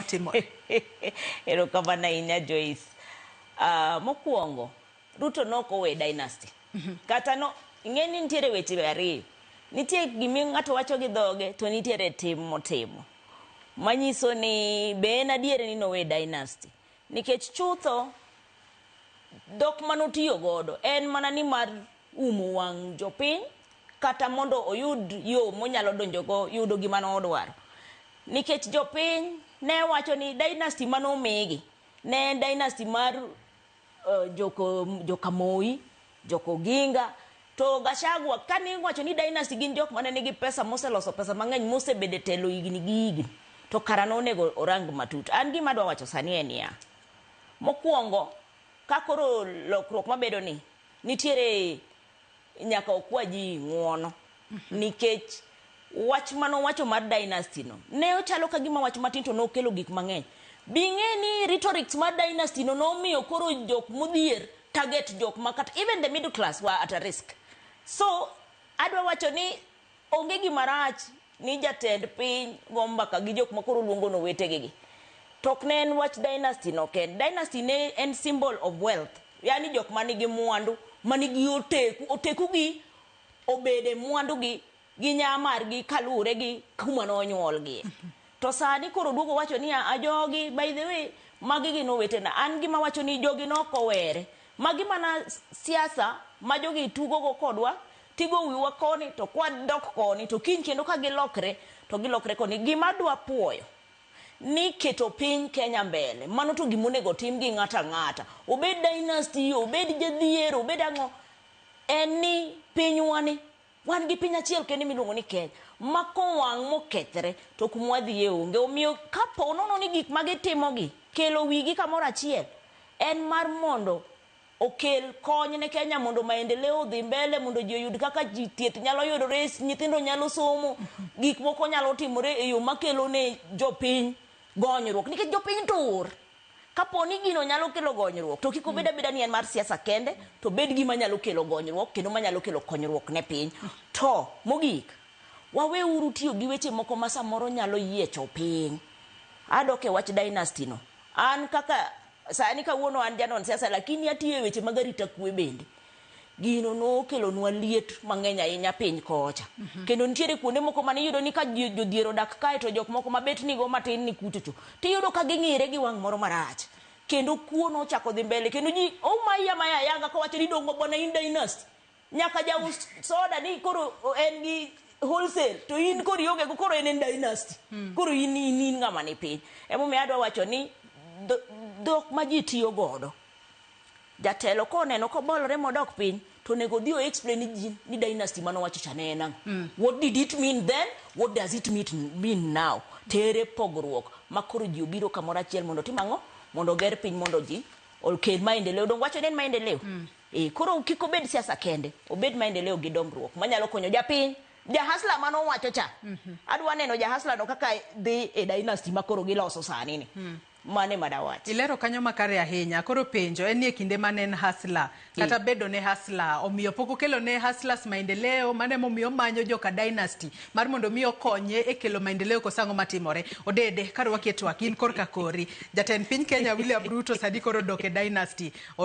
matimore. Erokamano ahinya Joyce. Uh, mokwongo Ruto nok owe dynasty. Mm -hmm. Kata no ing'e ni nitiere weche ariyo. Nitie gimi ng'ato wacho gi dhoge to nitiere tim motimo. Manyiso ni be en adier ni nowe dynasty. Nikech chutho dhok manotiyo godo en mana ni mar umo wang' jopiny kata mondo oyud yo monyalo donjogo yudo gima nodwaro. Nikech jopiny ne wacho ni dynasty mane omigi ne en dynasty mar joka Moi, joka Oginga, to Gachagua kane iwacho ni dynasty gin jok mane nigi pesa moseloso pesa mang'eny mosebedo e telo higni gi higni to kara nonego orang matut. An gima adwa wacho sani en niya, mokuongo ka koro lokruok mabedo ni Nitiere nyaka okwa ji ng'uono nikech wach mane owacho mar dynasty no ne ochalo ka gima wach matin to nokelo gik mang'eny. Bing'e ni rhetorics mar dynasty no nomiyo koro jok modhier target jok makata even the middle class were at a risk. So adwa wacho ni Onge gima rach ni jatend piny go mbaka gi jok ma koro oluongo ni owetege gi. To ok ne en wach dynasty no kende. Dynasty ne en symbol of wealth. Yaani jok ma nigi mwandu, ma nigi oteku. Oteku gi obede mwandu gi gi nya margi kaluwore gi kuma nonyuolgie. To sani koro oduogo owacho niya, a jogi, by the way, magi gin owetena. An gima awacho ni jogi ne ok owere. Magi mana siasa ma jogi tugo go kodwa, tigo wiwa koni to kwadok koni to kiny kendo ka gilokre to gilokre koni. Gima adwa puoyo ni keto piny Kenya mbele, mano to gima onego otim gi ng'ato ang'ata. Obed dynasty, obed jadhier, obed ang'o, en ni pinywa ni. Wan gi piny achiel kende miluongo ni Kenya ma kowang' mokethre to kuma wadhiye onge. Omiyo kapo nono ni gik ma gitimogi kelo wigi kamoro achiel en mar mondo okel kony ne Kenya mondo maendeleo odhi mbele, mondo ji oyud kaka ji thieth nyalo yudore, nyithindo nyalo somo, gik moko nyalo timore e yo makelo ne jopiny gonyruok nikech jopiny tur. Kapo ni gino nyalo kelo gonyruok, to kik obed abeda ni en mar siasa kende, to obed gima nyalo kelo gonyruok kendo manyalo kelo konyruok ne piny. To mogik, waweuru tiyo gi weche moko ma samoro nyalo yiecho piny. Adok e wach dynasty no. An kaka, sani kawuono an janon siasa lakini atiyo e weche mag arita kwe bende. Gino nokelonwa liet mang'eny ahinya piny kocha. Mm -hmm. Kendo nitiere kuonde moko mane iyudo ni ka jodhier odak kae to jok moko mabet nigo matin ni kuchocho, to iyudo ka ging'ire gi wang' moro marach. Kendo kuo nochako dhi mbele. Kendo ji omaya maya ayanga kawacho ni dongo bwana in dynasty. Nyaka jaus soda ni koro en gi wholesale to in koro ionge go koro en en dynasty. Mm. Koro in in, in ng'ama ni piny. Emomiyo adwa wacho ni dhok ma ji tiyo godo Jatelo koneno kobolore modok piny to onego odhi o explain ni ji ni dynasty mane owacho cha ne en ang'o? Mm. What did it mean then? What does it mean now? To ere pogruok ma koro ji obiro kamoro achiel mondo otim ang'o? Mondo oger piny mondo ji okel maendeleo. Donge wacho ni en maendeleo? Mm. E, koro kik obed siasa kende, obed maendeleo gi dongruok manyalo konyo japiny. Jahasla mane owacho cha. Mm -hmm. Adwa neno jahasla no kaka dhi e dynasty ma koro giloso sani ni. Mm. Mano ema dawach. Ilero kanyo makare ahinya. Koro penjo en ni e kinde mane en hustler kata mm. bedo ne hustler omiyo pok okelo ne hustlers maendeleo mane momiyo manyo joka dynasty mar mondo mi okonye e kelo maendeleo kosango matimore. Odede kar wakie twak in korka kori. Jatend piny Kenya William Ruto sadi koro dok e dynasty. O